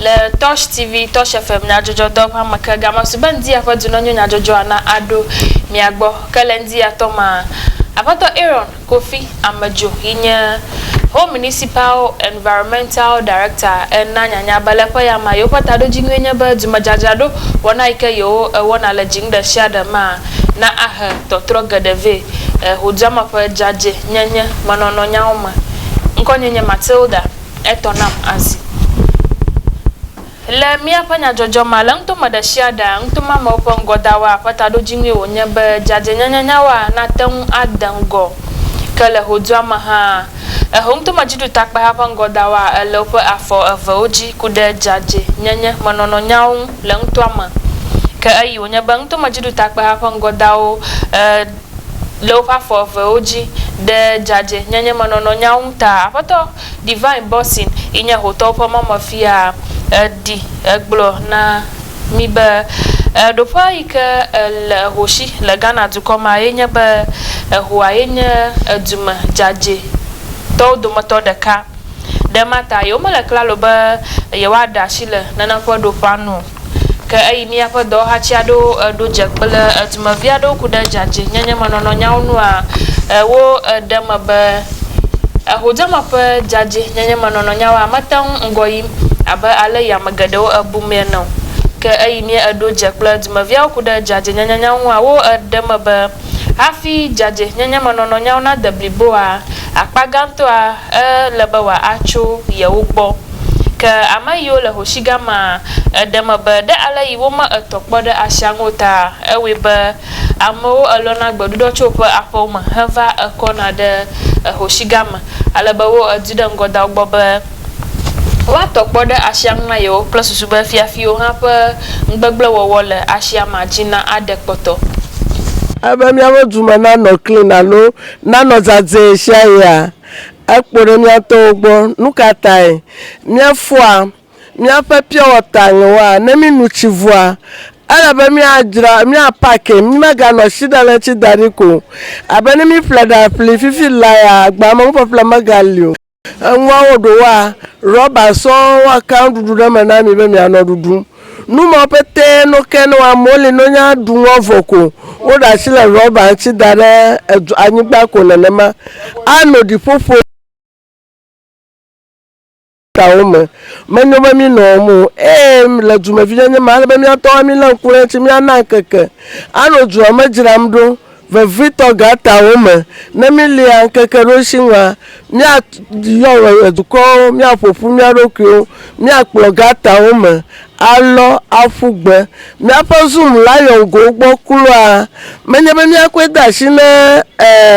Le Torch TV, Torch FM nyadzɔdzɔdɔ ƒe ame ke gama su be ŋdi aƒe du nenyo nyadzɔdzɔa na aɖo mia gbɔ. Ke le ŋdi atɔ maa, Aƒetɔ Aaron Kofi Amedzo yi nye Ho Municipal Environmental Director ena nyanya be le ƒe ya ma yewoƒe taɖodzinue nye be dumedzadzraɖo wɔna yi ke yewo wɔna le dziŋ ɖe sia ɖe maa na ahe tɔtrɔ geɖe vɛ le ŋudzame ƒe dzadzɛ nyenye menɔnɔ nyawo me. Ŋkɔnye nye Matilda. Etɔ nam azi. Le míaƒe nyadzɔdzɔ mea, le nutome ɖesiaɖea, nutomeamewo ƒe ŋgɔdawa ƒe taɖodzinue wònye be dzadzɛnyenyenyawoa nate ŋu ade ŋgɔ. Ke le xodzua me hã, eho nutomedziɖutakpeha ƒe ŋgɔdawa ele woƒe afɔ evewo dzi ku ɖe dzadzɛnyenye me nɔnɔ nyawo ŋu le nutoa me. Ke eyi wònye be nutomedziɖutakpeha ƒe ŋgɔdawo e. le woƒe afɔ evewo dzi ɖe dzadzɛnyenyemenɔnɔ nya ŋu ta. Aƒetɔ Divine Bossin, yi nye Hotɔwo ƒe Mɔmefia, ɖi gblɔ na mí be, Ɖoƒea yi ke le hoshi le Ghana dukɔ mea ye nye be Yehowa ye nye dume dzadzɛtɔwo dometɔ ɖeka. Ɖe ema ta yewomele klalo be yewoaɖe asi le nane ƒe ɖoƒea nu o. Ke eyi míaƒe dɔwɔhati aɖewo ɖo dze kple dumevi aɖewo ku ɖe dzadzɛnyenyemenɔnɔ nyawo nua? Wo ɖe eme be Yehodeamer ƒe dzadzɛnyenyemenɔnɔ nyawoa mete ŋu ŋgɔ yim abe ale yi ame geɖewo bumee ene o. Ke eyi míeɖo dze kple dumeviawo ku ɖe dzadzɛnyenyenyawo ŋua? Wo ɖe eme be hafi dzadzɛnyenyemenɔnɔ nyawo nade bliboa, Akpa gãtɔa e le be wa a tso yewo gbɔ. Ke ame yiwo le hoshi gã ma e ɖe me be ɖe ale yi wo me etɔ kpɔ ɖe ashia ŋu o ta e wɔe be amewo e lɔ na gbeɖuɖɔ tso woƒe aƒewo me he va e kɔ na ɖe e hoshi gã me ale be wo e di ɖe ŋgɔ da wo gbɔ be woa tɔ kpɔ ɖe ashia ŋu na yewo kple susu be fiafiwo hã ƒe ŋugbegble wɔwɔ le ashia ma dzi na a ɖe kpɔtɔ. Ebe miaƒe du me na nɔ klin alo Nanɔ dzadzɛ ɣeaɣia ekpo ɖe mía tɔwo gbɔ. Nu ka tae? Míefɔa míaƒe piɔwɔta ɣewoa? Ne mínu tsi vɔa, ele be míadzra, míapakɛ, mímeganɔ tsiɖaletsi da ɖi ko o. Abe ne míeƒle ɖa ƒli fifi laa, agba me nuƒeƒle megali o. Eŋua wo ɖo woa rɔba sɔŋ woa ka nuɖuɖu ɖe me na mi be mia nɔ ɖuɖum. Nu mawo pete no ke ne woa mo li no nye aɖu nu evɔ ko. Wo ɖa asi le rɔba ŋuti da ɖe edu anyigba ko nenema. Ano ɖiƒoƒo ta wo me. Me nyo be mi nɔ wɔm o. Eye le dumevi nyenye me ale be mia tɔwo mi le ŋku ɖe ŋuti mia na ŋkeke ano dua me dzram ɖo Vevitɔ gãtɔ wo me, ne mília ŋkekeɖoŋutsiŋua, míayɔ dukɔwo, míaƒo ƒu mía ɖokuiwo, míakplɔ gãtɔ wo me, alɔ, aƒu gbe. Míaƒe Zoom la yɔ ŋgo gbɔ kloa. Menye be míakɔe de asi na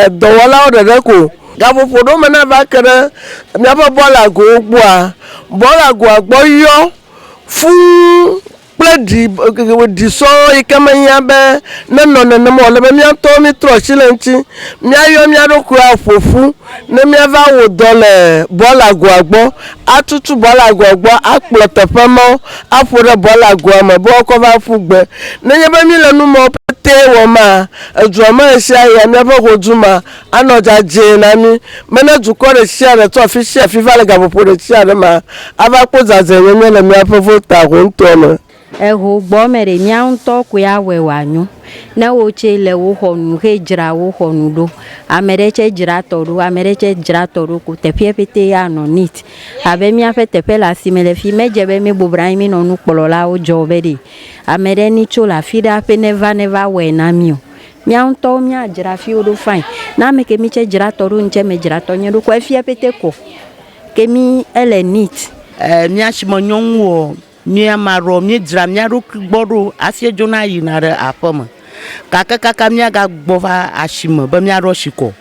dɔwɔlawo ɖeɖe ko o. Gaƒoƒo ɖewo me ne eva ke ɖe míaƒe bɔlagowo gbɔa, bɔlagoa gbɔ yɔ fũu. kple ɖi ɖi sɔɔ yi ke mehiã be nenɔ nenema o. Ele be mía ŋutɔwo mítrɔ asi le eŋuti. Míayɔ mía ɖokui aƒo ƒu ne míava wɔ dɔ le bɔlagoa gbɔ, atutu bɔlagoa gbɔ, akplɔ teƒe mawo aƒo ɖe bɔlagoa me be woakɔ va ƒu gbe. Nenye be míle nu mawo petɛ wɔm maa, edua me ɣesiaɣia, míaƒe ƒodu maa, Anɔ dzadzɛ na mí be ne dukɔ ɖe sia ɖe tso afi sia afi va le gaƒoƒo ɖe sia ɖe mea, ava kpɔ dzadzɛnyenye le míaƒe vota hoŋtɔa me. Eho gbɔ me ɖe mía ŋutɔ koe awɔe wòanyo. Ne wò tsɛ le wò xɔ nu xe dzra wò xɔ nu ɖo, ame ɖe tsɛ dzra tɔ ɖo, ame ɖe tsɛ dzra tɔ ɖo ko teƒeɛ ƒete anɔ neat. Abe míaƒe teƒe le asime le fi, medze be míebɔbɔnɔ anyi mínɔ nukplɔlawo dzɔ be ɖe ame ɖe ni tso le afi ɖe aƒe neva neva wɔe na mí o. Mía ŋutɔwo mía dzra fiwo ɖo fine. Na ame ke mi tse dzra tɔ ɖo ŋtse me dzra tɔ nye ɖo ko efia pete ko ke mi ele neat. Eh mía shime nyɔnu wɔ mí ama ɖo mí dzra mía ɖokui gbɔ ɖo asie dzo na yi na ɖe aƒe me. Gake kaka mía ga gbɔ va ashime be mía ɖɔ shi kɔ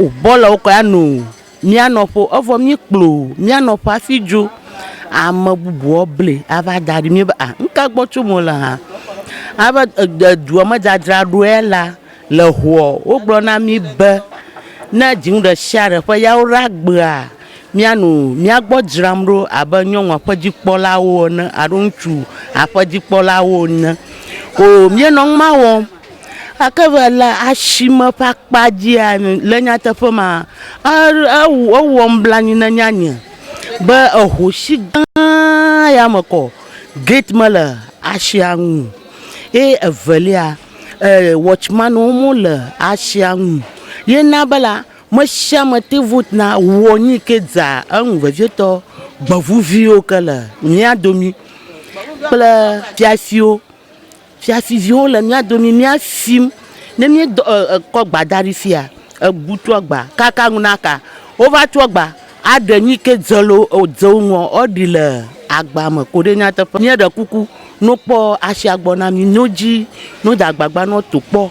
o bɔ le wokɔ ya no. Mía nɔƒo, evɔ míekplɔ mía nɔƒe hafi dzo. Ame bubuwo ble ava da ɖi. Míebe, a, nu ka gbɔ tsom wole hã? Alebe e, dua me dzadzra ɖoa la, le eŋua, wogblɔ na mí be, ne dziŋu ɖe sia ɖe ƒe ya woɖa gbea, míanɔ mía gbɔ dzram ɖo abe nyɔnu aƒedzikpɔlawo ene alo ŋutsu aƒedzikpɔlawo ene. Oo, míenɔ numa wɔm. Gake va le asime ƒe akpa dzia, le nyateƒe me, ewɔm blanui ne nye anye be ehosi gã ya me kɔ gate mele asia nu o. Ye evelia, watchman wo me le asia nu o. Ye na be la, me sia me te ŋu na wɔ nu ke dza enu vevietɔ gbeŋuviwo ke le mía domi kple fiafiwo. Fiafiviwo le mía domi mía fim. Ne mí dɔ e kɔ gba da ɖi fia, ebu tu agba kaka ŋu na ka. Wo va tu agba a ɖe nyi ke dze le wo dze wo ŋua wo ɖi le agba me koɖe nyateƒe. Mía ɖe kuku no kpɔ asia gbɔ na mí no dzi no da gbagba nɔ to kpɔ.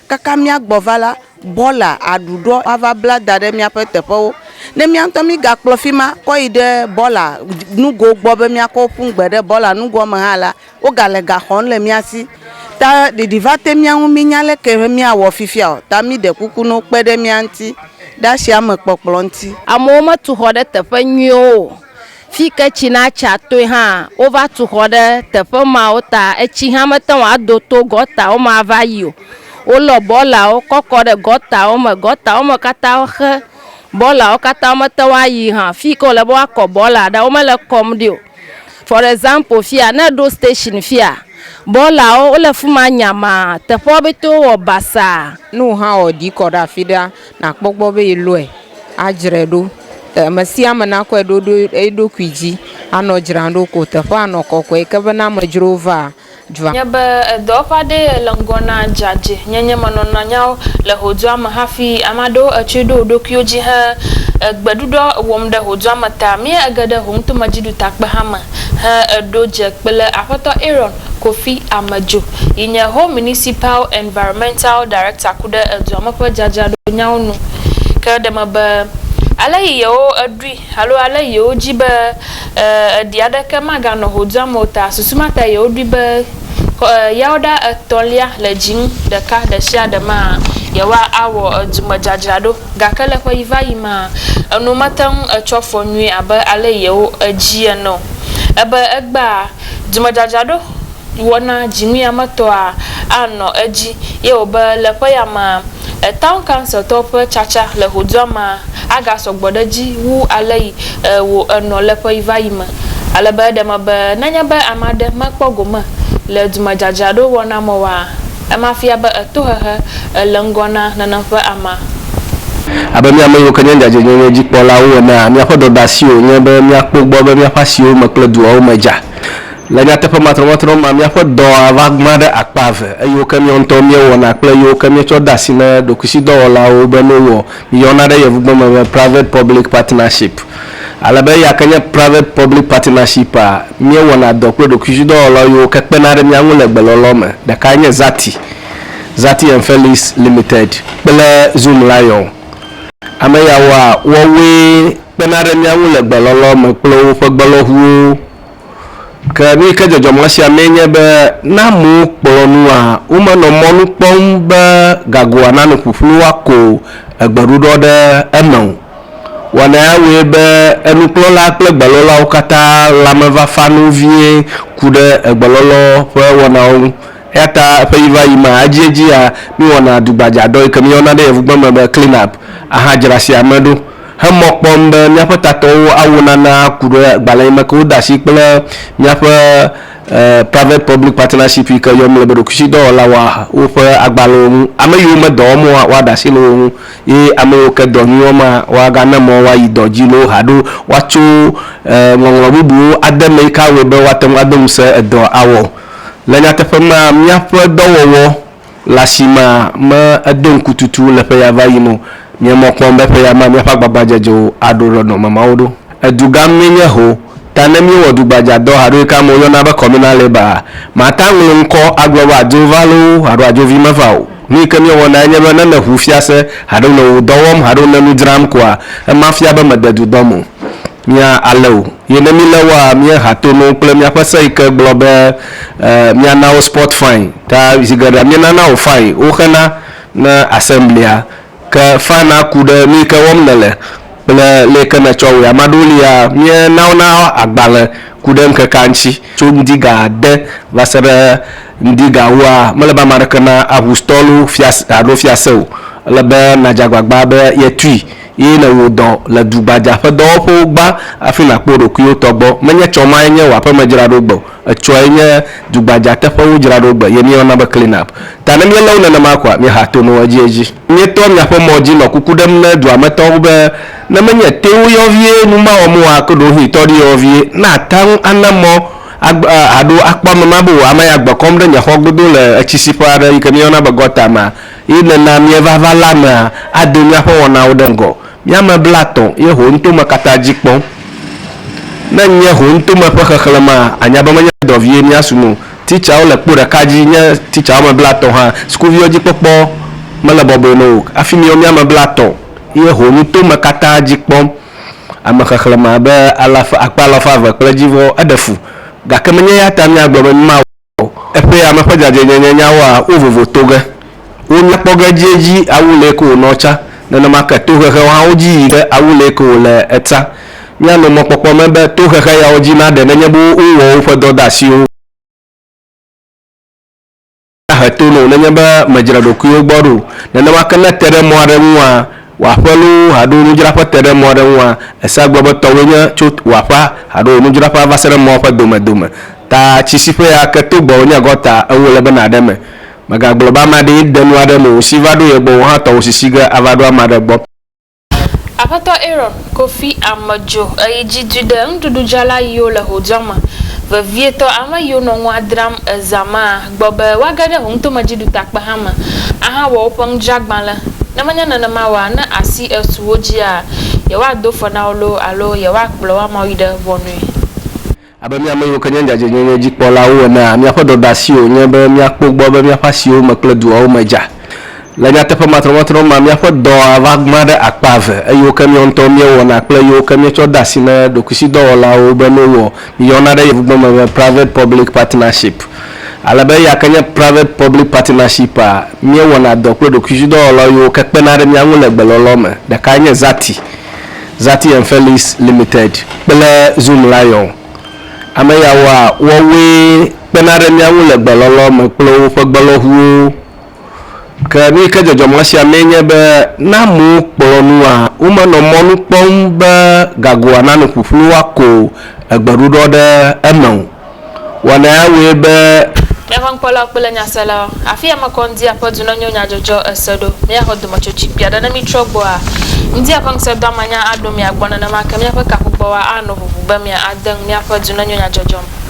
Kaka míagbɔ va la, bɔla aɖu ɖɔ ava bla da ɖe míaƒe teƒewo. Ne mía ŋutɔ mígakplɔ fi ma kɔ yi ɖe bɔla nugo gbɔ be míakɔ ƒu ŋugbe ɖe bɔla nugoa me hã la, wogale ga xɔm le mía si. Ta ɖiɖi va te mía ŋu mínya leke míawɔ fifia o. Ta míɖe kuku ne wokpe ɖe mía ŋuti ɖe asiamekpɔkplɔ ŋuti. Amewo metu xɔ ɖe teƒe nyuiwo o. Fi ke tsi na tsa toe hã, wova tu xɔ ɖe teƒe mawo ta. Etsi hã mete ŋu ado to gɔtawo me ava yi o. Wolɔ bɔlawo kɔ kɔ ɖe gɔtawo me. Gɔtawo me katã xe. Bɔlawo katã womete ŋu ayi hã. Fi yi ke wòle be woakɔ bɔla ɖe, womele kɔm ɖi o. For example fia, ne èɖo station fia, bɔlawo wole fi ma nyamaa. Teƒewo pɛte wowɔ basaa. Ne wò hã wɔ ɖi kɔ ɖe afi ɖea, Nàkpɔ gbɔ be yelɔe adzrae ɖo. Ame sia ame nakɔe ɖo ɖo eɖokui dzi anɔ dzram ɖo ko teƒea anɔ kɔkɔe ke be ne amedzrowo va dua. Nye be edɔwɔƒe aɖee yele ŋgɔ na dzadzɛ nyenye me nɔnɔ nyawo le ho dua me hafi ame aɖewo etsɔe ɖo wo ɖokuiwo dzi he egbe ɖuɖɔ wɔm ɖe ho dua me ta. Mia ege ɖe ho ŋutɔ medziɖutakpe hã me he eɖo dze kple Aƒetɔ Aaron. Kofi Amejo, yi nye Ho Municipal Environmental Director ku ɖe edua me ƒe dzadzraɖonyawo nu ke ɖe eme be, ale yi yewo eɖui alo ale yi yewo dzi be e eɖi aɖeke maganɔ ho dua me o ta, susu ma tae yewo ɖui be xɔ e yawoɖa etɔ̃lia le dzi nu ɖeka ɖe sia ɖe mea yewoa awɔ edu me dzadzraɖo. Gake le ƒeyivaɣi ma, enu mete ŋu etsɔ fɔ nyuie abe ale yewo edii ene o. Ebe egbea, dzimedzadzraɖo wɔna dziŋuiametɔa anɔ edzi ye wòbe le ƒeya mea, Town Counciltɔwo ƒe tsatsa le vodua mea agasɔ gbɔ ɖe edzi wu alesi wò enɔ le ƒeyivaɣi me. Ale be eɖe eme be nenye be ame aɖe mekpɔ gome le dzimedzadzraɖo wɔna me oa, Ema fia be èto xexe, èle ŋgɔ na nenem ƒe ama. Abe mía ame yiwo ke nye dzadzɛnyenye dzikpɔlawo enea, míaƒe dɔdeasi wònye be míakpɔ gbɔ be míaƒe asiwo me kple duawo me dza. Le nyateƒe matrɔmatrɔ mea, míaƒe dɔa va gbã ɖe akpa eve, eyiwo ke míawo ŋutɔwo míewɔna kple eyiwo ke míetsɔ de asi na ɖokuisidɔwɔlawo be míewɔ. Yɔna ɖe yevugbe me be Private-Public Partnership. Ale be eya ke nye Private-Public Partnership-a, míewɔna dɔ kple ɖokuidzidɔwɔla yiwo ke kpena ɖe mía ŋu le gbelɔlɔ me. Ɖekae nye Zati, Zati and Felix Limited, kple Zoom Lion. Ame yawoa, woawoe kpena ɖe mía ŋu le gbelɔlɔ me kple woƒe gbelɔŋuwo. Ke nu yi ke dzɔdzɔ mɔ sia mee nye be ne amewo kplɔ nua, womenɔ mɔnu kpɔm be gagoa nanɔ ƒuƒlu woako gbeɖuɖɔ ɖe eme o. Wɔna ya wɔe be enukplɔla kple gbelɔlawo katã lãme va fa nu vie ku ɖe gbelɔlɔ ƒe wɔnawo ŋu. Eya ta ɣeyiɣivaɣi mea, edziedzia míwɔna dugbadzadɔ yi ke míeyɔna ɖe yevugbe me be clean up ahadzra sia me ɖo. he mɔ kpɔm be míaƒe tatɔwo awo nana ku ɖe agbalẽ yi me ke wode asi kple míaƒe Private Public Partnership yi ke yɔ mí le be ɖokuisidɔwɔla woa woƒe agbalẽwo ŋu. Ame yiwo me dɔ wɔm oa, woaɖe asi le wo ŋu ye ame yiwo ke dɔ nyui wɔm hã, woagana mɔ woayi dɔ dzi loo haɖo woatso ŋɔŋlɔ bubuwo ade eme yi ke awɔe be woate ŋu ado ŋusẽ edɔa awɔ. Le nyateƒe mea, míaƒe dɔwɔwɔ, Le asimea, me edo ŋku tutu le ƒeya va yim o. Míe mɔ kpɔm be ƒeya mea míaƒe agbagbadzedzewo aɖo ɖe nɔnɔme mawo ɖo. Edu gã míe nye ho, ta ne míe wɔ dugbadza dɔ alo yi ke amewo yɔna be communal labor a, màta ŋlo ŋkɔ agblɔ be adzo va loo alo adzo vi meva o. Nu yi ke míe wɔna enye be ne nèʋu fiase alo nèwò dɔ wɔm alo nènu dzram koa, ema fia be mède du dɔm o. Mía ale o, ye ne mí le wɔa, mía ha to no kple mía ƒe se yi ke gblɔ be, e, mía na wo sport fine. Ta zi geɖea mí nana wo fine wo xena ne assemblia. Ke fine a ku ɖe nu yi ke wɔm nèle kple le yi ke nètsɔ wɔe. Ame aɖewo lia, mía na wo na agbalẽ ku ɖe ŋkekea ŋuti. Tso ŋdi ga ade va se ɖe ŋdi ga wua, mele be ame aɖeke na aʋustɔlo fiase alo fiase o. Ele be nàdze agbagba be ye tui. Ye le wò dɔ le du gbadza ƒe dɔwɔƒewo gbã hafi nàkpɔ wò ɖokuiwo tɔ gbɔ. Menye tsɔ mae nye wò aƒeme dzraɖo gbe o. Etsɔe nye du gbadza teƒewo dzraɖo gbe ye míeyɔna be clean up. Ta ne míelé wo nenema koa, míeha to no edziedzi. Míetoa míaƒe mɔ dzi nɔ kuku ɖem ne dua me tɔwo be, ne menye teo yɔvie nu mawɔm oa, ake ɖewohĩ tɔ ɖi yɔvie. Ne àte ŋu ana mɔ agbe aɖo akpɔ ame ma be wò ame ya gbe kɔm ɖe nye xɔ godo le etsisiƒe aɖe yi ke míeyɔna be gɔta mea, Ye nena míeva vala mea, ado míaƒe wɔnawo ɖe ŋgɔ. Mí ame blatɔ̃ ye ho nutome katã dzi kpɔm. Ne nye ho nutome ƒe xexlẽmea, ànya be menye dɔ vie mía sum o. Titsawo le kpo ɖeka dzi nye titsa woame blatɔ̃ hã. Sukuviwo dzi kpɔkpɔ mele bɔbɔe na wo o. Hafi míwo mí ame blatɔ̃ ye ho nutome katã dzi kpɔm. Ame xexlẽme abe alafa, akpe alafa eve kple edzivɔ. Eɖe fu. Gake menye eya ta míagblɔ be mímawɔ o. o. Eƒe ame ƒe dzadzɛnyenye nyawoa, wo vovo to ge. Wo mia kpɔ ge edziedzi awu lee ke wònɔ tsa. Nenema ke tohehewo hã wodzi yi ge awu lee ke wòle etsa. Mia no mɔkpɔkpɔ me be tohehe yawo dzi na ɖe nenye be wo wɔ woƒe dɔdeasiwo. Na he to no nenye be me dzre ɖokuiwo gbɔ ɖo. Nenema ke ne te ɖe mɔ aɖe ŋua, wò aƒe loo alo nudzraƒe te ɖe mɔ aɖe ŋua, ese agbe be tɔwòe nye tso wò aƒea alo wò nudzraƒea va se ɖe mɔa ƒe domedome. Ta tsi si ƒe ya ke to gbɔwò nye gɔta, eŋu ele be nàɖe eme. Mègagblɔ be ame aɖee ɖe nua ɖem o, ŋsi va ɖo ye gbɔ o, wò hã tɔwò sisi ge ava ɖo ame aɖe gbɔ. Aƒetɔ Aaron Kofi Ame dzo eyi dzi dui ɖe nuɖuɖudzrala yiwo le ho dua me vevietɔ, ame yiwo nɔ nua dram eza maa, gbɔ be woage ɖe ho ŋutomedziɖutakpe hã me ahawɔ woƒe nudzragbalẽ, ne menye nenema oa, ne asi esu wo dzia, yewoado fe na wo loo alo yewoakplɔ wo amawo yi ɖe ʋɔnui. Abe mía ame yiwo ke nye dzadzɛnyenye dzikpɔlawo enea, míaƒe dɔdeasi wònye be míakpɔ gbɔ be míaƒe asiwo me kple duawo me dza. Le nyateƒe matrɔmatrɔ mea, míaƒe dɔa va gbã ɖe akpa eve, eyiwo ke míawo ŋutɔwo míewɔna kple eyiwo ke míetsɔ dea asi na ɖokuisidɔwɔlawo be no wɔ. Míeyɔna ɖe yevugbe me be private-public partnership. Ale be eya ke nye private-public partnership-a, míewɔna dɔ kple ɖokuisidɔwɔlawo yiwo ke kpena ɖe mía ŋu le gbelɔlɔ me. Ɖekae nye Zati. Zati and Felix Limited kple Zoom Lion. Ame yawoa, woawoe kpena ɖe mía ŋu le gbelɔlɔ me kple woƒe gbelɔŋuwo. Ke nu yi ke dzɔdzɔm le esia mee nye be ne amewo kplɔ nua, womenɔ mɔnu kpɔm be gagoa nano ƒuƒlu woako egbeɖuɖɔ ɖe eme o. wɔna ya wɔe be. Míaƒe ŋkpɔlawo kple nyaselawo. Afi ya mekɔ ŋdia ƒe du ne nyo nyadzɔdzɔ ese ɖo. Míaxɔ dometsotsi kpui aɖe ne mítrɔ gbɔ hã. Ŋdia ƒe ŋusẽdɔama nya aɖo mia gbɔ nenema ke míaƒe kaƒugbɔwa ano ʋuʋu be mia ade ŋu míaƒe du ne nyo nyadzɔdzɔ me.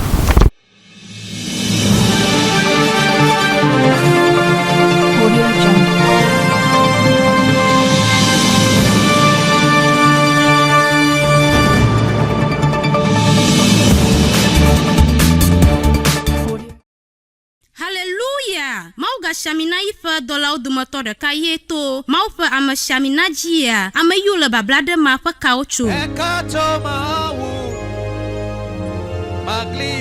Haleluya! Mawu gashia mi na yiƒe dɔlawo dometɔ ɖeka ye to Mawu ƒe ameshiamina dzia ame yiwo le babla ɖe ma ƒe kawo tso. Meka atsɔ mawu magli.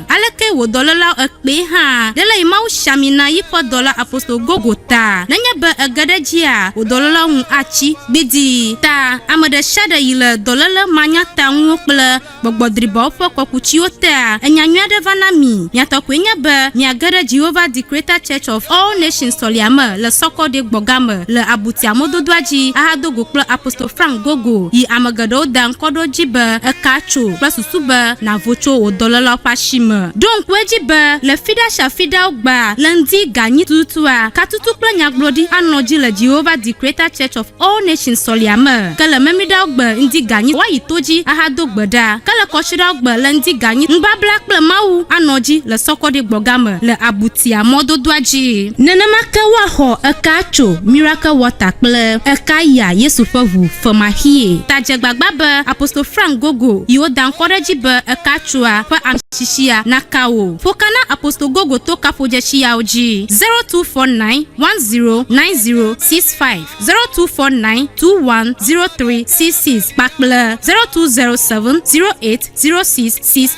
Aleke wò dɔlélao ekpee hã ɖe le yi Mawu sia mi na yi ƒe dɔla apostol gogo ta? Nenye be ège ɖe edzia, wò dɔlélao ŋu atsi gbidii. Ta, ame ɖe sia ɖe yi le dɔléle manyatanuwo kple gbɔgbɔ dribawo ƒe kɔkutsiwo tea, enya nyui aɖe va na mi. Mia tɔ koe nye be miage ɖe Jehovah the Creator Church of All Nations sɔlia me le Sɔkɔ ɖe gbɔ ga me le abutia mɔdodoa dzi ahado go kple apostol Frank Gogo yi ame geɖewo da ŋkɔ ɖo edzi be eka tso kple susu be nàvo tso wò dɔlelawo ƒe asi me. Ɖo ŋku edzi be le fiɖa sia fiɖa wogbaa le ŋdi ganyi tututua, katutu kple nyagblɔɖi anɔ dzi le Jehovah the Creator Church of All Nations sɔlia me. Ke le memiɖawo gbe ŋdi ganyi woayi to dzi ahado gbe ɖa. Ke le kɔsiɖawo gbe le ŋdi ganyi nubabla kple Mawu anɔ dzi le sɔkɔɖi gbɔga me le abutia mɔdodoa dzi. Nenema ke woaxɔ eka tso Miracle Water kple eka yia Yesu ƒe ʋu femaxie. Ta dze gbagba be Apostol Frank Gogo yi wo da ŋkɔ ɖe edzi be eka tsoa ƒe ametsitsia naka wò. Ƒo ka na Apostol Gogo to kaƒodzetsi yawo dzi, 0249109065, 0249210366 kpakple 0207080666.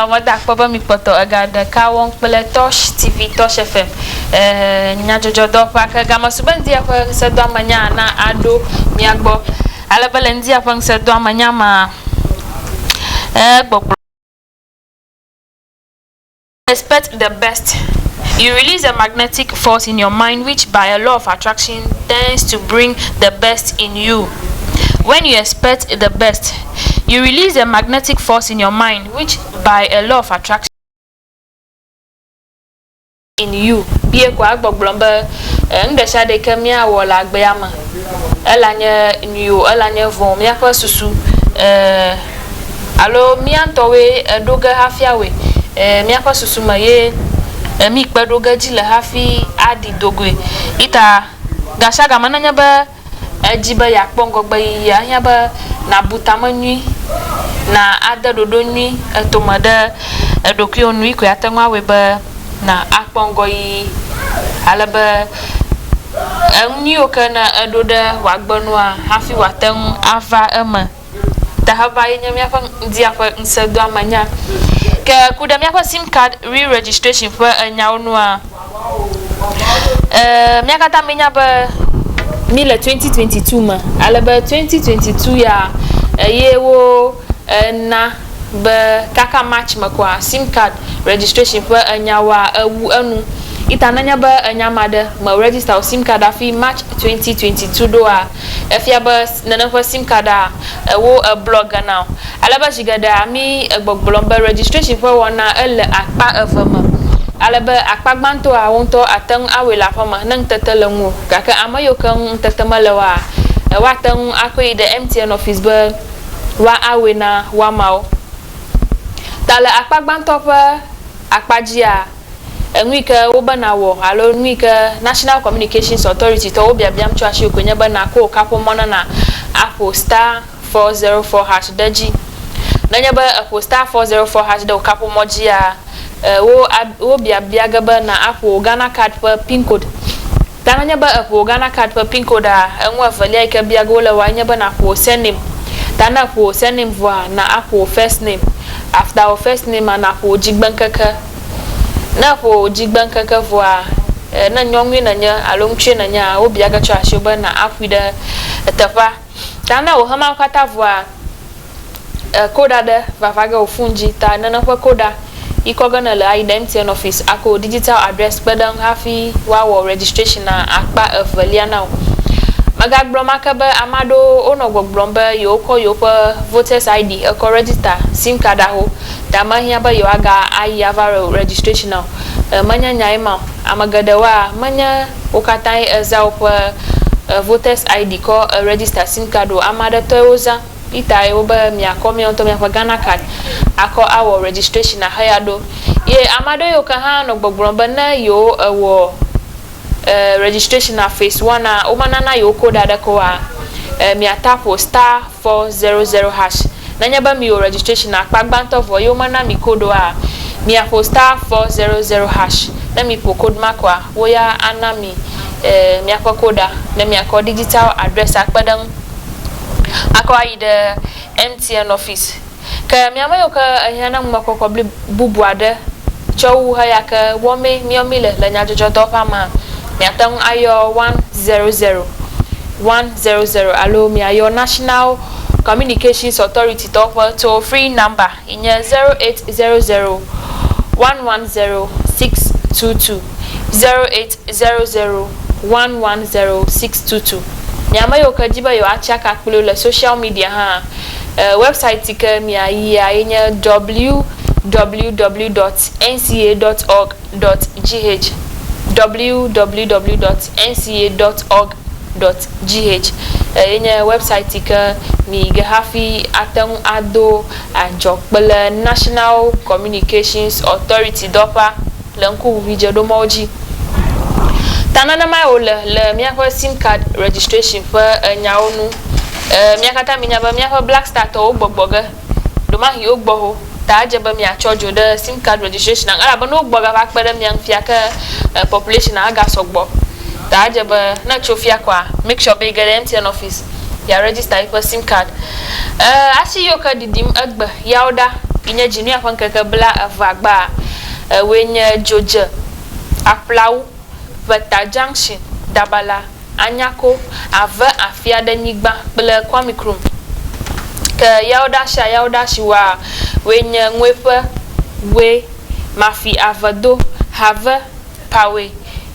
Nɔ meda akpɔ be mikpɔtɔ ega ɖeka wɔm kple Tosh TV, Tosh FM e nyadzɔdzɔ dɔwɔƒea ke game su be ŋdia ƒe ŋsɛdɔame nyaa na aɖo mia gbɔ. Ale be le ŋdia ƒe ŋsɛdɔame nya ma e gbɔgblɔ. Expect the best. You release a magnetic force in your mind which by a law of attraction tends to bring the best in you. When you expect the best. You release a magnetic force in your mind which by a law of attraction. In you bie ko agbɔgblɔm be e nuɖesiaɖe yi ke míawɔ le agbea me ela nye nyui o ela nye vɔ̃ o míaƒe susu e alo mía ŋutɔwoe eɖo ge hafi awɔe e míaƒe susu me ye e mí kpe ɖo ge dzi le hafi aɖi do goe. Ita gasiagame nenye be. Edi be yeakpɔ ŋgɔgbeyiyi ahiã be nàbu ta me nyui, na ade ɖoɖo nyui etome ɖe eɖokuiwo nu. Yi koe ate ŋu awɔe be na akpɔ ŋgɔyiyi ale be enu nyuiwo ke ne eɖo ɖe wòagbe nua hafi wòate ŋu ava eme. Tahaba ye nye míaƒe ŋdia ƒe ŋusẽdoamenya. Ke ku ɖe míaƒe sim card re-registration ƒe enyawo nua? Ɛɛ, mía katã míenya be míle 2022 me ale be 2022 ya eye wona be kaka March me koa, sim card registration ƒe enyawoa ewu enu. Eyi ta nenye be ènya ame aɖe, mèregister wò sim card hafi March 2022 ɖoa, Efia be nène ƒe sim kaɖa ewo eblɔ ge na wò. Ale be zi geɖea mí egbɔgblɔm be registration ƒe wɔna ele akpa eve me. Ale be akpa gbãtɔa wò ŋutɔ àte ŋu awɔe le aƒeme ne ŋutete le ŋuwò. Gake ame yiwo ke ŋu ŋutete mele woa, woate ŋu akɔe yi ɖe MTN office be woawɔe na woamawo. Ta le akpa gbãtɔ ƒe akpa dzia. Enu yi ke wobe nàwɔ alo nu yi ke National Communications Authority tɔwo biabiam tso asiwò koe nye be nàko wò kaƒomɔ na na aƒo star four zero four hash ɖe edzi. Nenye be èƒo star four zero four hash ɖe wò kaƒomɔ dzia, e wo a wobiabia ge be na aƒo wò Ghana card ƒe pin code. Da nenye be èƒo wò Ghana Card ƒe pin koɖaa, enu evelia yi ke bia ge wole wòa enye be nàƒo wò surname. Ta ne èƒo wò surname vɔa, na aƒo wò first name. After wò first name-a, nàƒo wò dzigbeŋkeke. Ne èƒo wò dzigbeŋkeke vɔa, ne nyɔnue nènye alo ŋutsue nènyea, wobia ge tsɔ asiwò be na aƒoe ɖe teƒea. Ta na wò hama kpata vua e koɖa ɖe vava ge wò fun dzi ta nene ƒe koɖa yikɔ ge nele ayi ɖe MTN office ake wò digital address kpe ɖe ŋu hafi woawɔ registration na akpa evelia na wò. Megagblɔm ake be ame aɖewo wonɔ gbɔgblɔm be yewokɔ yewoƒe voters ID ekɔ register sim card aho ta mehiã be yewoaga ayi ava wɔ registration na o e menye nyae ma o. Ame geɖewoa menye. Wo katãe eza woƒe voters ID kɔ register sim card o. Ame aɖe tɔe wozã. Peter ye wobe miakɔ mia ŋutɔ miaƒe Ghana card akɔ awɔ registration aheyi aɖo. Ye ame aɖewo yiwo ke hã nɔ gbɔgblɔm be ne yewo ewɔ registration phase one-a, womanana yewo code aɖeke oa, mia tapo star. 400#. Nenye be miwɔ registration akpa gbãtɔ vɔ eye womena mi code oa, miaƒo star 400#. Ne miƒo code ma koa, wo ya ana mi miaƒe code-a ne miakɔ digital address akpe ɖe eŋu akɔ ayi ɖe MTN office. Ke mía ame yiwo ke ehiã na ŋumekpɔkpɔ bli bubu aɖe tsɔ wu heya ke wɔmee míawo míle le nyadzɔdzɔdɔwɔƒea mea, miate ŋu ayɔ One Zero Zero, one zero zero, alo miayɔ National Communications Authority tɔwo ƒe toll free number yi nye zero eight zero zero, one one zero, six two two, zero eight. 001106222 Mi ame yiwo ke di be yewoatsi aka kpli wo le social media hã, website si ke miayia ye nye www dot nca dot org dot gh, www dot nca dot org dot gh ye nye website si ke miyi ge hafi ate ŋu ado adzɔ kple National Communications Authority dɔƒea. le ŋkuʋuʋui dzeɖomɔwo dzi. Ta nenemae wòle le míaƒe sim card registration ƒe nyawo ŋu. Ẽ, mía katã míenya be míaƒe Black Star tɔwo gbɔgbɔ ge. Ɖemahi wogbɔ ho, ta edze be miatsɔ dzo ɖe sim card registration-a ŋu elabe ne wogbɔ gava kpe ɖe mia ŋu fia ke ẽ, population-a agasɔ gbɔ. Ta edze be ne etso fia kɔa, make sure be yige ɖe MTN office ya register yiƒe sim card. E, asi yiwo ke ɖiɖim egbe yawo ɖa yi nye Dzinuya ƒe ŋkeke bla evea gbaa. Ewoe nye Dzodze, Aƒlawu, Ʋeta Junction, Dabala, Anyako, Ave Afiaɖe Nyigba kple Kwami Krum. Ke yawo ɖa sia yawo ɖa si woa woe nye Ŋueƒe, Ŋue, Mafi Ave Do, Have, Pawe,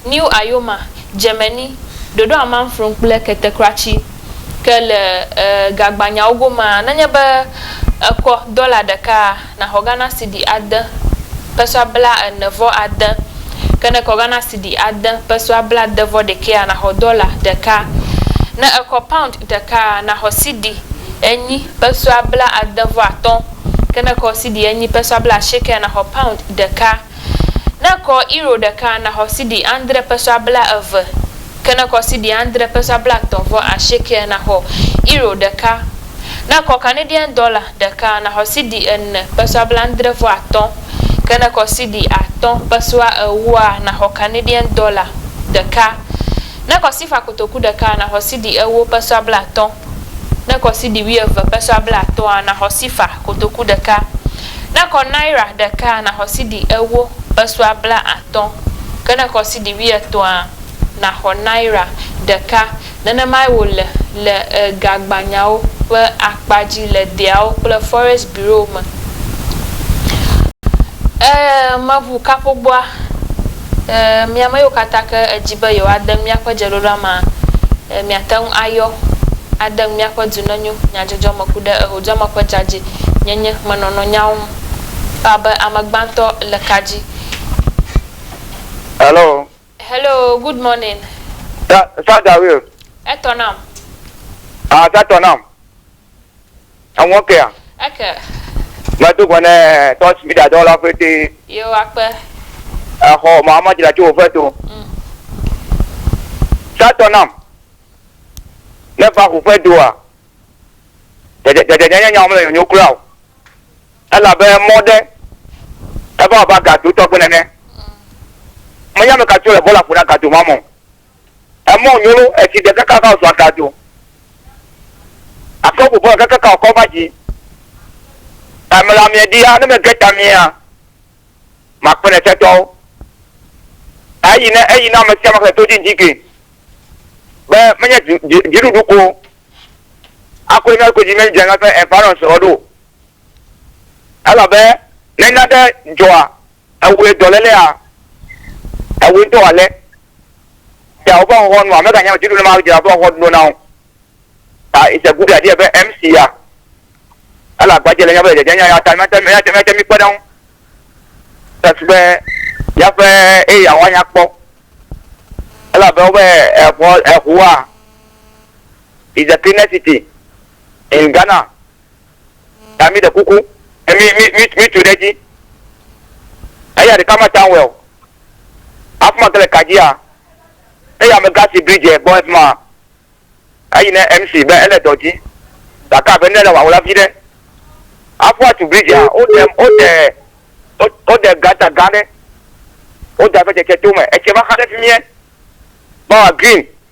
New Ayoma, Djemeni, Dodo Amanfron kple Ketekratsi ke le e gagbanyawo gomaa, nenye be ekɔ dɔla ɖekaa, naxɔ Ghana Cedi ade pesɔa bla ene vɔ ade, ke ne ekɔ Ghana Cedi ade pesɔa bla de vɔ ɖekɛa, naxɔ dɔla ɖeka. Ne ekɔ Pound ɖekaa, naxɔ Cedi enyi pesɔa bla ade vɔ atɔ̃, ke ne ekɔ Cedi enyi pesɔa bla asiekɛa, naxɔ Pound ɖeka. Ne kɔ euro ɖeka naxɔ sidi andre pesewa blaeve, ke ne kɔ sidi andre pesewa blatɔ̃ vɔ asiekea naxɔ euro ɖeka. Ne kɔ Canadian dɔla ɖeka naxɔ sidi ene pesewa blaadre vɔ atɔ̃, ke ne kɔ sidi atɔ̃ pesewa ewoa naxɔ Canadian dɔla ɖeka. Ne kɔ sifa kotoku ɖeka naxɔ sidi ewo pesewa blatɔ̃. Ne kɔ sidi wuieve peso abla atɔ̃a, naxɔ sifa kotoku ɖeka. Ne kɔ naira ɖekaa, naxɔ sidi ewo peso abla atɔ̃. Ke ne kɔ sidi wuietɔ̃a, naxɔ naira ɖeka. Nenemae wòle le gagbanyawo ƒe akpa dzi le deawo kple Forest Bureau me. Ẽ, meʋu kaƒogbɔa. E, mi ame yiwo katã ke edi be yewoade nu míaƒe dzeɖoɖoa me, e, miate ŋu ayɔ ade nu míaƒe Du Nenyo Nyadzɔdzɔ me ku ɖe Ehodzɔme ƒe Dzadzɛ Nyenye me nɔnɔ nyawo ŋu abe ame gbãtɔ le ka dzi. Hello. Hello, good morning. Sa, Saja Will. Etɔ nam. Ah, sa tɔ nam. Aŋɔ kea? Eke. Medo gbe ne Touch Media dɔwɔla fete. Yewo akpe. Exɔ Mahama dzra tso wòve to. Mm. Sa tɔ nam. Ne va ƒuƒe doa, dzedzedzedzedze nye nyawo mele nyonyo kura o. Elabe mɔ ɖe eva abe agadotɔ gbe nene. Mm. Menya ame ka tso le bɔla ƒo na gadoma me o. Emɔ nyo lo esi ɖe kaka ka zua ka do. Akɔ bubɔ kaka ka kɔ va ji. Ame la mia dia ne me ge ta mia. Ma kpene se tɔwo. Eyi ne eyi na me sia me to ji ji ke. Be me nye ji ji ji du ko. Akɔ ina ko ji me jeng ape environment odo. Ela be ne na de joa. Ewɔe dɔlélea, ewɔe dɔ ale be woƒe xɔxɔ nɔa meganya me tututu ne mawɔ dzra woƒe xɔxɔ ɖo na wo. Ta it's a good idea be MC ya ele agbadze le míaƒe dzedzenya ya ta míate míate míate mi kpe ɖe ŋu tatu be míaƒe area wa nya kpɔ. Elabe wobe exɔ exɔa is the cleanest city in Ghana. ta mi ɖe kuku e mi mi mi mi tu ɖe dzi eya ɖeka ma ta wɛ o afuma ke le kadzia eya me gasi bridge e gbɔ efuma eyi ne mc be ele dɔ dzi gake abe ne le wawla vi ɖe afua tu bridge a o de o de o de gata gã ɖe o da ve dzetse to me etse va xa ɖe fi miɛ bawa green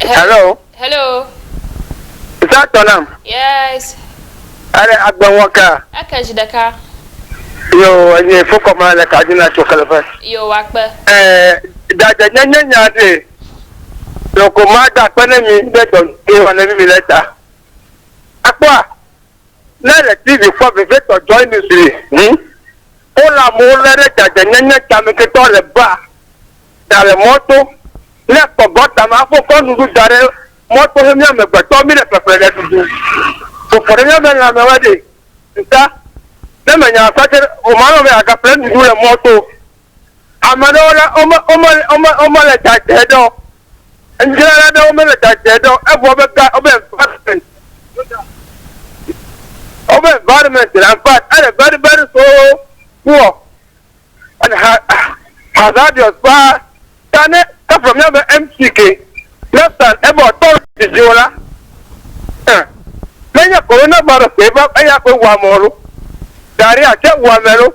Hello. Hello. Isa tɔ nam. Yes. Ale agbe ŋɔ ka. Eke zi ɖeka. Yo enye fokɔ ma le ka dina tso kele ƒe. Yo wa kpe. Ɛɛ dade nye nye nya de. Loko ma da kpe ne mi de dɔ de wa ne mi le ta. Akpɔa. Ne le TV kpɔ vevietɔ Joy News li ŋu, wole amewo lé ɖe dzadzɛnyenye tameketɔ le baa, ɖa le mɔto, ne kpɔ gɔta me aƒo kɔ nuɖu da ɖe mɔto he mía amegbetɔ mí le ƒeƒle ɖe ɖuɖu. Ƒoƒo ɖe mía me lãme wa ɖe ŋta ne me nya aƒe aɖe o ma nɔ be agaƒle nuɖu le mɔto. Ame ɖewo la, wome, wome, wome, womele dzadzɛ ɖe o. Nudzrala ɖewo mele dzadzɛ ɖe o. Evɔ wobe ga, wobe environment, wobe environment la, in fact, ele very, very so poor and ha, hazardous paa. Ta ne efɔ míaƒe MC ke, next time ebe woatɔ le dzi dzi o la, eh, menye coronavirus ke va eya koe wɔ ame loo, diarrhea tsɛ wɔ ame loo,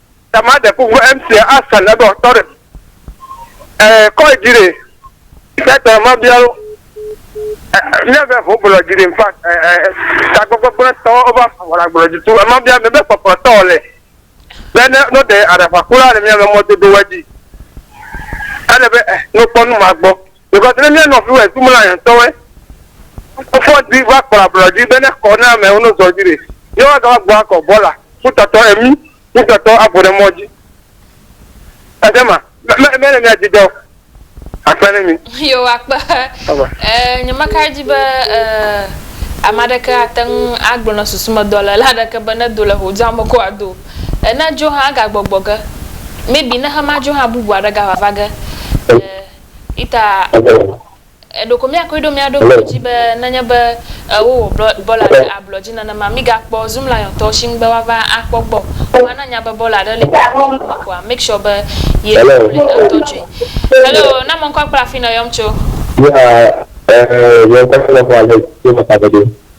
ta ma de kuku MC Asan ebe wòatɔ ɖe eh, kɔe dzi ɖe sɛtɔ ma bialo míave ho gblɔ dzi ɖe nfa tagbɔgbɔgblẽtɔ wova wɔla gblɔ dzi tu ema bia mebe kpɔkplɔtɔ le be ne no de aɖaƒakula le míave mɔdodowa dzi ele be eh, nokpɔ nu ma gbɔ Because ne mía nɔviwo e zumla yɛ ŋtɔwɛ fɔ di va kpla blɔ di be ne kɔ ne amɛ wo no zɔ di ɖe yɛ wa gava gbɔ akɔ bɔla ku tɔtɔ emi ku tɔtɔ abo ɖe mɔ di ede ma mɛ mɛ le mía di dɔ akpe ne mi yo akpe eh nyama ka di be eh amadeke ateng agblɔ na susu me dɔ le la deke be ne do le ho dzame ko ado eh ne dzo ha ga gbɔgbɔ ge maybe ne hema dzo ha bubu aɖe ga vava ge eh Ita eɖoko miakoe ɖo miaɖo ŋku dzi be nenye be wowɔ bɔla ɖe ablɔ dzi nenema migakpɔ Zoom Liontɔwo si ŋugbe woava akpɔ gbɔ o. Vɔa ne nya be bɔla aɖe li miaɖo ŋku dzi koa, make sure be yee nye kple ŋutɔ dzɔe. Hello, na mɔ ŋkɔ akpla afi nèyɔm tso. Yea, eh, yɔm kple xlẽxɔ ale tso Mataveɖo.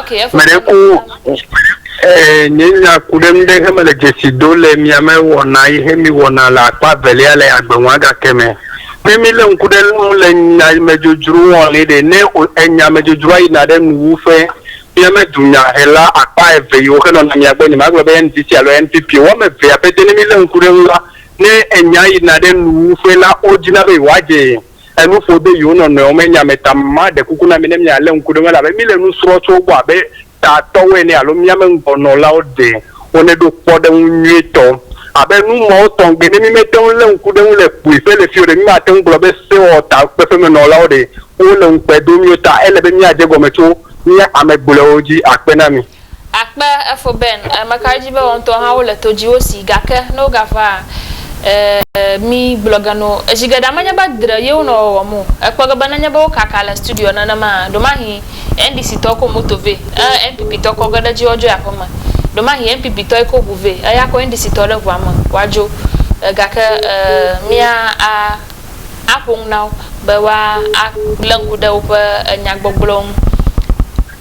Ok, eƒe Mele nya ku nɔ eh, nye nya ku ɖe nu ɖe he mele dzesi do le mia me wɔna yi he mi wɔna le akpa velia le agbenwa gake me. Ne mi le ŋku ɖe nu le nya yi me dzodzro wɔn le ɖe ne o enya me dzodzro ayina ɖe nu wu ƒe mia me dunya he la akpa eve yi wo he nɔna mia gbɔ nye magblɔ be NDC alo NPP o wɔme vea be de ne mi le ŋku ɖe nu la ne enya yina ɖe nu wu ƒe la wo dina be yewoa dze enu ƒo de yewo nɔnɔewo me nya me ta. Maɖe kuku na mi ne mialé ŋku ɖe eŋu elabe míle nu srɔ̃ tso wo gbɔ abe tatɔwo ene alo mía me ŋgɔnɔlawo ɖe woneɖo kpɔɖeŋu nyuitɔ. Abe nu mawo tɔgbe ne mímete ŋu lé ŋku ɖe eŋu le kpuiƒe le fii o ɖe, mímate ŋu gblɔ be sewɔtakpeƒemenɔlawo ɖe wole ŋukpe dom mí o. Ta ele be míadze egɔme tso mía ame gblɔewo dzi. Akpe na mi. Akpe efo ben e meka edzi be wontɔ ha wole to dzi wo si gake ne wogava e mi gblɔ ge no edzi ge ɖa menye be dre ye wonɔ wɔwɔm o ekpɔ ge be nenye be wokaka le studio nenema a ɖomahi NDC tɔ ko moto ve e NPP tɔ kɔ ge ɖe dzi woadzoe aƒe me ɖomahi NPP tɔ yi ko ʋu ve eya ko NDC tɔ ɖe ʋua me woadzo e gake e mia a a ƒonu nawo be woa a le ŋku ɖe woƒe e nya gbɔgblɔwo ŋu.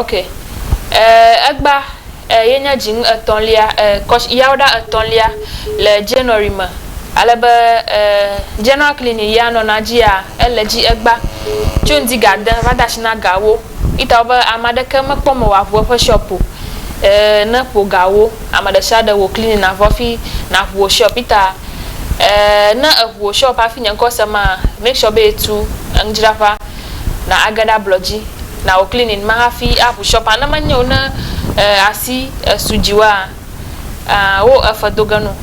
Ok, e, egba e, ye nye dzinu etɔ̃lia, e, kɔsh, yawo ɖa etɔ̃lia le January me, ale be e, General Clinic ya nɔna dzia, ele dzi egba tso ŋdi ga de va de asi na gawo, itawo be ame aɖeke mekpɔ me wòaʋu eƒe shop o, e, ne ƒo gawo, ame ɖesiaɖe wò clinic navɔ hafi naʋu wò shop, ita e, ne eʋu wò shop hafi nye ŋkɔ se maa, make sure be etu enudzraƒea, na age ɖe ablɔ dzi na wò clinic ma hafi aƒu shop a. Ne menye o ne eh, asi esu dziwòa, ah, wo efe do ge no.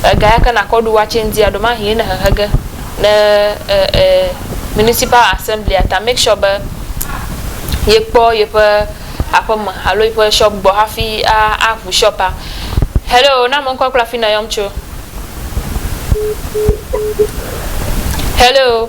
Ega ya ke nakɔ ɖu woatse ŋdi a, ɖomahie ne hehe ge ɖe eh, eh, municipal assembly a ta. Make sure be ye kpɔ yeƒe aƒe me alo yeƒe shop gbɔ hafi a, aƒu shop a. Hello, na ame ŋkɔ kple afi nèyɔm tso. Hello.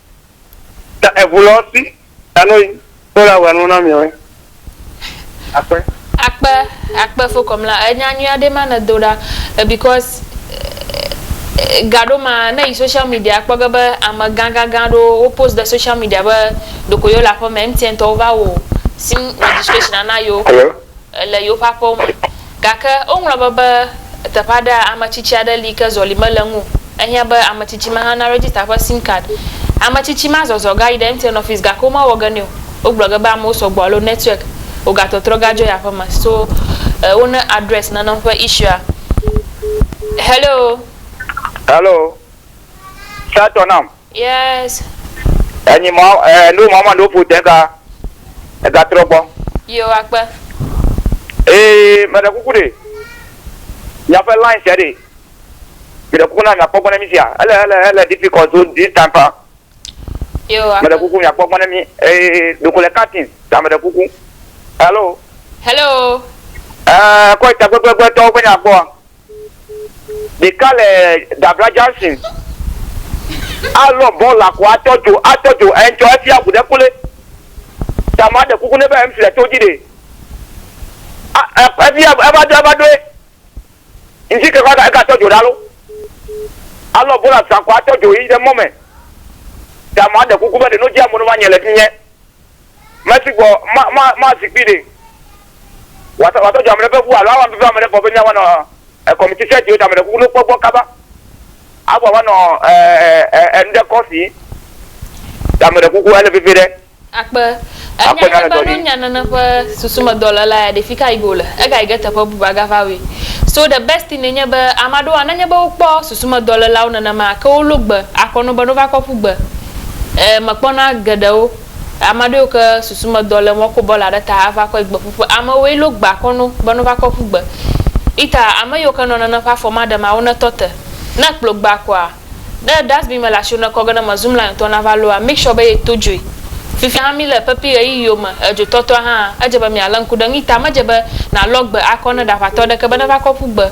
Ta eŋu lɔ si ta no yi to la wenu na mi we. Akpe. Akpe akpe fo kɔm la enya nyuia ɖe ma ne do ɖa eh, because eh, eh, gaɖo ma ne yi social media kpɔ ge be ame gã gã gã ɖo wo post ɖe social media be ɖoko yo le aƒeme MTN tɔwo va wo sim registration ana yo. Hello. le yewoƒe aƒewo me. Gake woŋlɔ be be teƒe aɖea, ame tsitsi aɖe li yi ke zɔli mele eŋu o. Ehiã be ame tsitsi ma hã naregister eƒe sim card. Ame tsitsi ma zɔzɔ gayi ɖe MTN office gake womewɔ ge nɛ o. Wogblɔ ge be amewo sɔgbɔ alo network wogatɔtrɔ gadzɔ yi aƒeme so wo ne address nanewo ƒe issue-a. Hello. Hello. Try to nam. Yes. Enyi mɔ eh no mɔ ma no ƒo te ka ega trɔ gbɔ. Yo wa kpe. Ee me ɖe kuku ɖe mia ƒe line sia ɖe me ɖe kuku na mia kpɔ gbɔ ne mi sia ele ele ele difficult so this time pa. Yo wa kpe. Me ɖe kuku mia kpɔ gbɔ ne mi ee doko le cutting ta me ɖe kuku. Hello. Hello. Eh kɔ ita gbegbegbetɔwo ƒe nya gbɔa. ɖeka le Dabra Junction alɔ bɔl la ko atɔ dzo atɔ dzo ŋtsɔ efia ŋu ɖe kple ta ma ɖe kuku ne be ŋfi le to dzi ɖe a efia eva do eva doe ŋfi ke kɔ eka tɔ dzo ɖa lo alɔ bɔl la sa ko atɔ dzo yi ɖe mɔ me ta ma ɖe kuku be ɖe no dzi amono va nye le fi nye. meti gbɔ ma, ma, ma zikpui ɖe. Wata, wata dzɔ amele be wu alo awa bibi amele bɔ be nyawa nɔ ekɔmiti sɛ diwo damele kuku no kpɔ gbɔ kaba. Awa wa nɔ ɛ, ɛ, ɛ, nde kɔsi damele kuku ele vivi ɖe. Akpe. Enya ɖe be no nya nene ƒe susu me dɔ le la ya ɖe fika yi go le. Ega yi ge teƒe bubu aga va we. So the best thing enye be ama ɖewo a nenye be wo kpɔ susu me dɔ le lawo nenema ke wo lo gbe akɔ no be no va kɔ ƒu gbe. E, me kpɔna geɖewo. Ame aɖewo ke susumedɔ le mɔ ko bɔla ɖe ta ava kɔe gbe ƒuƒe. Ame woe lo gba kɔ no be no va kɔ ƒu gbe. Ita ame yiwo ke nɔ nene ƒe afɔ ma ɖe ma wo ne tɔ te. Ne ekplɔ gba kɔa, ne dustbin me le asio ne kɔ ge ne me zu mla ŋutɔ na va loa, make sure be ye to dzoe. Fifia hã mi le pepi ɣeyiɣiwo me, edzo tɔtɔa hã, edze be mia le ŋku ɖe ŋu. Ita me dze be na lɔ gbe akɔ ne ɖaʋatɔ ɖe ke be ne va kɔ ƒu gbe.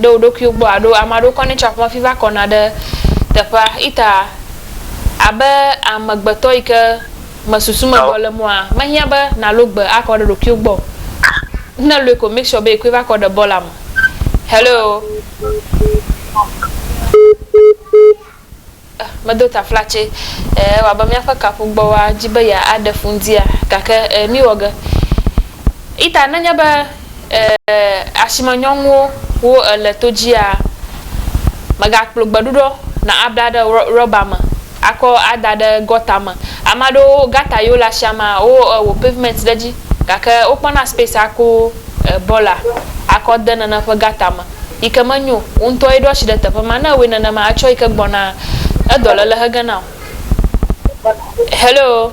ɖe wo ɖokuiwo gbɔ alo ame aɖewo kɔnɛ tsɔ aƒemefi va kɔna ɖe teƒea. Ita, abe amegbetɔ yi ke me susu me bɔ le mɔa, mehiã be nàlo gbe akɔ ɖe ɖokuiwo gbɔ o. Ne èloe ko, make sure be èkɔe va kɔ ɖe bɔ la me. Hello. Eh, medo taflatse. Eh, ewa be míaƒe kaƒugbɔwoa di be ya aɖe fu ŋdia? Gake eh, míwɔ ge. Ita, nenye be eh, asime nyɔnuwo wo èle to dzia, mègakplɔ gbeɖuɖɔ na abla ɖe rɔba me akɔ ada ɖe gɔta me. Ame aɖewo gata yewo le asiamea, wo eh, wɔ pavement ɖe edzi gake wokpɔna space aku eh, bɔla akɔ de nane ƒe gata me. yi ke menyo o. Wò ŋutɔe ɖo asi ɖe teƒe ma. Ne èwɔe nenema, atsɔ yi ke gbɔna edɔléle he ge na wò. Hello.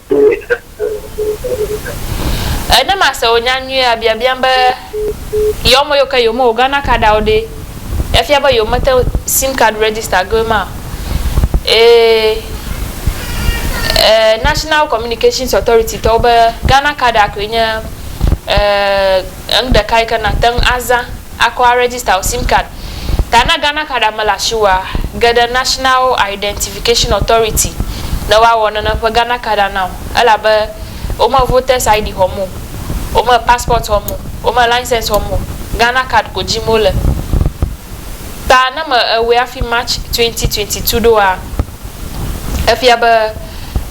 E ne ma se wò nya nyuie a bia biam be yɔ me yɔ ke yome wò Ghana card awo ɖe e fia be yome te sim card register ge ma e e National Communications Authority tɔwo be Ghana card a koe nye e. Enu ɖeka yi ke nàte ŋu azã akɔ arejista wò sim card ta na Ghana Card ame le asiwòa, ge ɖe National Identification Authority ne woawɔ nene ƒe Ghana Card ana wò, elabe wome Voters ID xɔm o, wome Passport xɔm o, wome License xɔm o, Ghana Card ko dzim wole. Ta ne me ewɔe hafi March 2022 ɖoa, efia be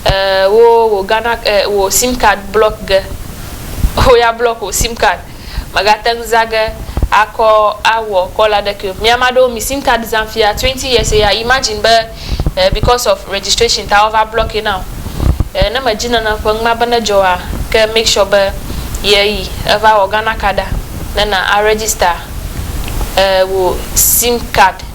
e wo wò Ghana e wò sim card block ge. Wo ya block wò sim card mègate ŋu zã ge akɔ awɔ call aɖeke o. Mi ame aɖewo mi sim card zam fia twenty years eya imagine be e because of registration ta wova block ye na wò. E ne mèdi nana ƒe numa be nedzɔ oa ke make sure be ye yi eva wɔ Ghana card a ne na a register e wò sim card.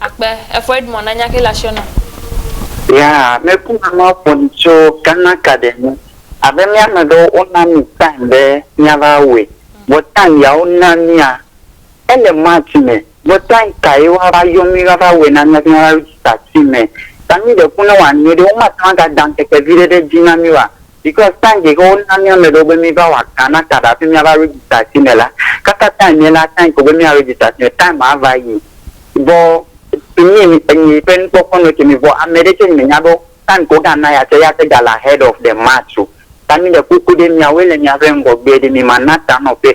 Akpe, efɔ Edmond na nya ke le asiɔ nam. Ya me ku na ma ƒo nu tso Ghana cadet ŋu abe mía ame ɖewo wo na mi time be mía va wɔe vɔ time ya wo na mía ele March me vɔ time ka ye woa va yɔ mi va va wɔe na mía be mía va register time ta mi ɖe ku ne wa nyuie ɖe wo ma te ŋu a ga da ŋkeke viɖe ɖe dzi na mi oa Because time ke ke wona mía ame ɖewo be míva wɔ Ghana card hafi míava register asi me la, kaka time ye la time ko be mía register asi me. Time maa va yi. Vɔ to mí enyi ƒe nukpɔkpɔ nɔ ke mí vɔ ame ɖe tsɛ nyi me nya be time ke wo ga na ya tsɛ ya te ga le ahead of the match o. Ta mí le kpokpo ɖe mía woe le mía ƒe ŋgɔgbe ɖe mí ma na ta nɔ ƒe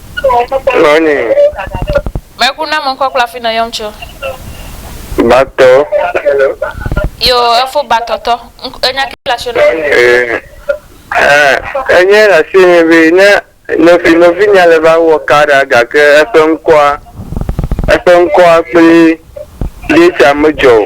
Nɔnyi. Mɛku na mɔ ŋkɔ kpla fi nɔ yɔm co. Batɔ. Yo efo batɔ tɔ. Ŋk enya ki le asio nɔ. Eee enya le asio nɛ be ne nɔvi nɔvinyea le va wɔ ka ɖa gake eƒe ŋkɔa eƒe ŋkɔa kple date a me dzɔ o.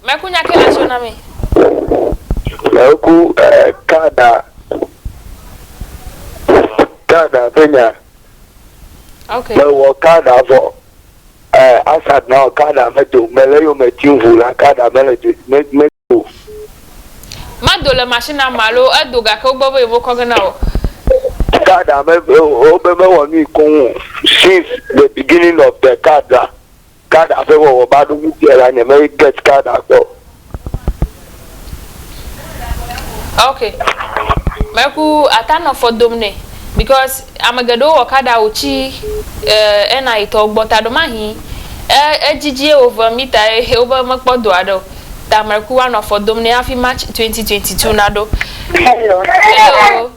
Meku nya ke la tso na mi. Meku eh, Kada. Kada ƒe nya. Ok. Mewɔ Kada vɔ. Eh, Asad na wɔ Kada me do. Me le yo me tim ʋu la Kada me le do. Me, me do. Me do le machine na ma lo, e do gake wo gbɔ be yevo kɔ ge na wɔ. card ame wobe mewɔ nui koŋ o since the beginning of the card la Kada ƒe wɔwɔ ba ɖo ŋuti la nye me get kada gbɔ. Ok me ku ata nɔ fɔ dom nɛ because ame geɖewo wɔ kada wo tsi eh NI tɔwo gbɔ taɖo mahi eh edzidzie wo ve mita ye he wo be me kpɔ do aɖeo ta me ku wa nɔ fɔ dom nɛ hafi March 2022 na ɖo. Hello. Hello.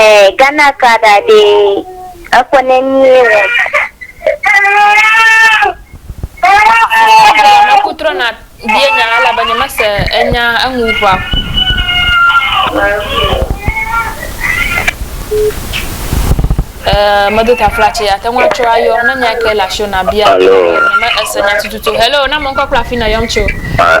Eh, Ghana ka ɖa ɖe ekɔ ne mie wɔ. Ame ku trɔ na bie nya la la be nye mese enya eŋu ʋua. Eh, medo tafla tse ate ŋu atsɔ ayɔ ne nya ke le asio na bia. Hello. Nye me ese nya tututu. Hello, na mɔ ŋkɔ kple afi na yɔm tso. Ah.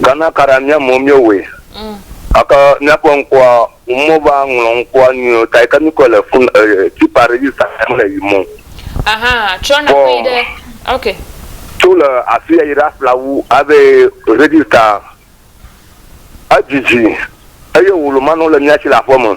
Gana kara mía mɔ mía wɔe. Gake mía ƒe ŋkɔa ŋu mɔ va ŋlɔ ŋkɔa nyuie ta yi ke mí kɔe le fun eh, tipa register me le yi mɔ. Ahaa, trɔ na ƒe yi ɖe, ok. Tso le afiya yi ɖe aflawu ave register. Edzidzi eye wolo manɔ le mía si le aƒeme.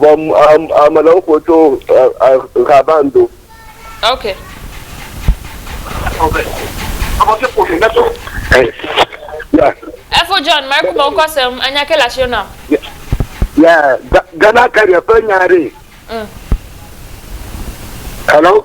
Vɔ ame ɖewo ƒo tso Xaban do. Ok. Efo John, Marco me wokɔ sem, anya ke le asio nam. Yeah, Ghana Carrier ƒe nya ɖee. Mm. Hello?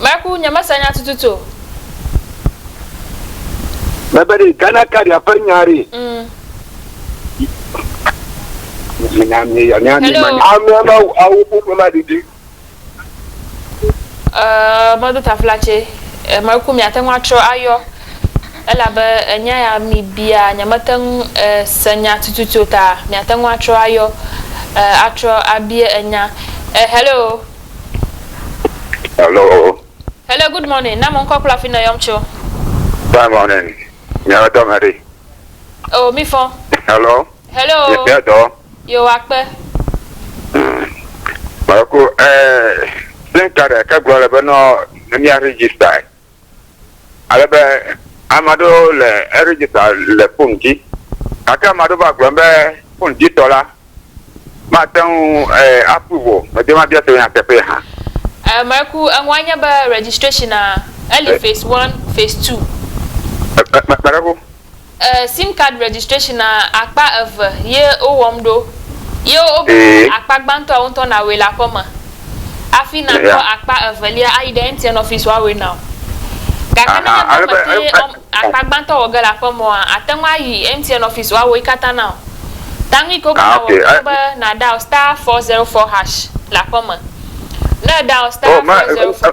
Meku, nyemese nya tututu o. Mebe ɖe Ghana Cardia ƒe nya ɖe. Hello. Amea ma awo ƒoƒe ma ɖiɖi. Ɛɛ, meɖo taflatse. Meku, miate ŋu atrɔ ayɔ. Elabe enya ya mi bia, nyemete ŋu se nya tututu o ta miate ŋu atrɔ ayɔ, ɛɛ atrɔ abia enya. Ɛɛ, hello. Hello. Hello, good morning. Na mo ŋkɔ kple afi nèyɔm tso. Fine morning. Nye dɔ me ɖi. Oh, mi fɔ. Hello. Hello. Nye bia dɔ. Yo akpe. Mako, eh, SIM card ke gblɔ le be nɔ ne mia register. Ale be ame aɖewo le eregister le fon dzi. Gake ame aɖewo va gblɔm be fon dzi tɔ la mate ŋu eh, approve o. Medi be mabia tso nya teƒee hã. Eh, Maiku, eŋua nye be registration-a, eli eh. phase one, phase two. Eh, eh, Maiku. E sim card registration na akpa eve ye wo wɔm ɖo ye wo be akpa gbãtɔa wo ŋutɔ na wɔe le aƒe me afi na kɔ akpa evelia ayi ɖe MTN office wa wɔe nao. Gake ne nye be me te wɔm akpa gbãtɔ wɔ ge le aƒe me oa ate ŋu ayi MTN office wa wɔe katã nao. Ta nu yi ke wo be na wɔ enye be na dial star four zero four hash le aƒe me. Ne e dial star four zero four.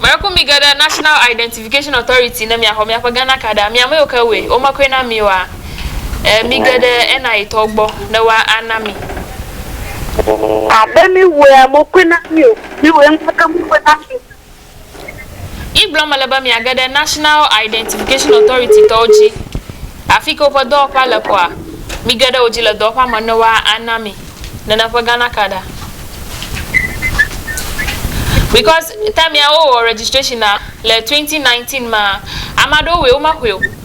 Miracle mi geɖe National Identification Authority ne miaxɔ miaƒe Ghana kaɖa. Mi ameyiwo ke wɔe, womekɔe na mi oa? Ɛɛ, mi ge ɖe NIA tɔwo gbɔ ne woa ana mi. Abe mi wɔea, mokɔe na mi o. Mi wɔe ŋutɔ ke mokɔe na mi o. Yi gblɔm mele be miage ɖe National Identification Authority tɔwo dzi, afike woƒe dɔwɔƒea le kɔa, mige ɖe wo dzi le dɔwɔƒea me ne woa ana mi nana ƒe Ghana card a. Because time ya wo wɔ registration a le 2019 ma, ame aɖewo wɔe wo me xɔe o.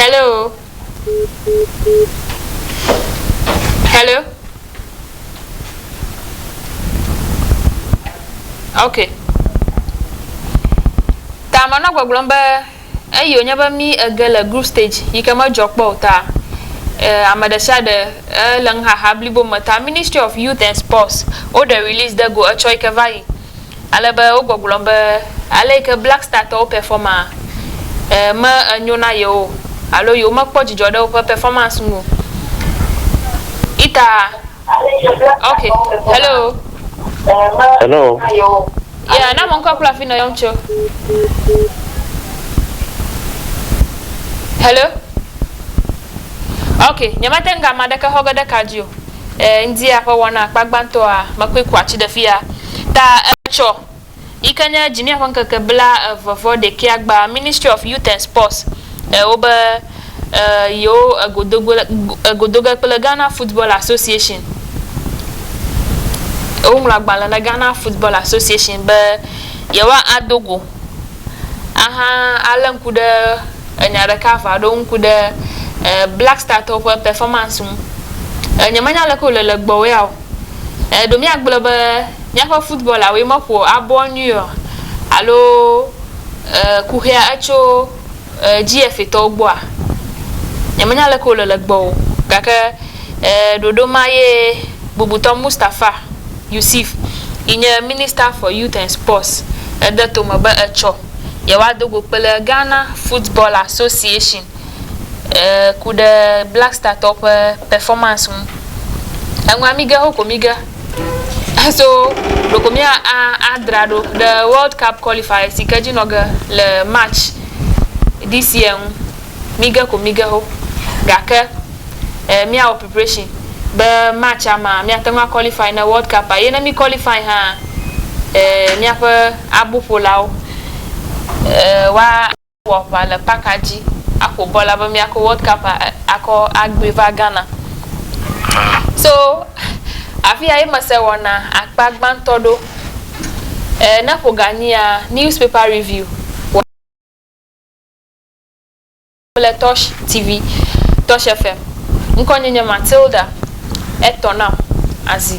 Hello. Hello. Ok. Ta manɔ gbɔgblɔm be eyi wònye be mí ege le group stage yi ke medzɔ kpɔ o ta eh, ame ɖe sia ɖe eh, le nuxaxa blibo me ta Ministry of Youth and Sports woɖe release de go etsɔ yi ke va yi ale be wogbɔgblɔm be ale yi ke Black Star tɔwo pɛfɔma e me enyo na yewo o alo yewomekpɔ dzidzɔ ɖe woƒe pɛfɔmansi ŋu o. Ita, ok, hello. Hello. Yeah, na ame ŋkɔ kple afi nɔ yɔm tso. Hello. Ok, nyemate ŋu ame aɖeke xɔ ge ɖe ka dzi o. E Ŋdia ƒe wɔna akpa gbãtɔa mekui ku atsi ɖe fia ta etsɔ yi ke nye Jimia ƒe ŋkeke bla eve vɔ ɖekɛa gba Ministry of Youth and Sports e wo be e yewo e go do go e go do ge kple Ghana Football Association. E woŋlɔ agbalẽ na Ghana Football Association be yewoa a do go. ahalé ŋku ɖe enya ɖeka ŋu aɖo ŋku ɖe Black Startɔwo ƒe pɛfɔmansi ŋu. Nyemenya aleke wòle le gbɔwòa o. Ɖe míagblɔ be míaƒe futbɔlawoe meƒo abɔ nyuie oa? Alo kuxia etso GFAtɔwo gbɔa? Nyemenya aleke wòle le gbɔ o. Gake ɖoɖo ma ye bubutɔ Mustapha. Yusif yi nye Minister for Youth and Sports ede tome be etsɔ yewoado go kple Ghana Football Association ku ɖe Black Startɔwo ƒe performance ŋu. Eŋua mí ge hokɔmi ge so ɖeko mía a adra ɖo ɖe World Cup Qualifiers yi ke dzi nɔ ge le March this year ŋu. Mige ko mige ho. Gake e míawɔ preparation be match-a mea míate ŋu a qualify ne World Cup-a eye ne mí qualify hã e míaƒe aboƒolawo e woa wɔ aʋa le park-a dzi aƒo bɔl abe míakɔ World Cup-a akɔ agbli va Ghana. So afi ya ye mese wɔna akpa gbãtɔ ɖo. E ne ƒo ga nyia, newspaper review wɔ. Le Tɔsh TV, Tɔsh FM. Ŋkɔ nye nye Matilda, etɔ nam azi.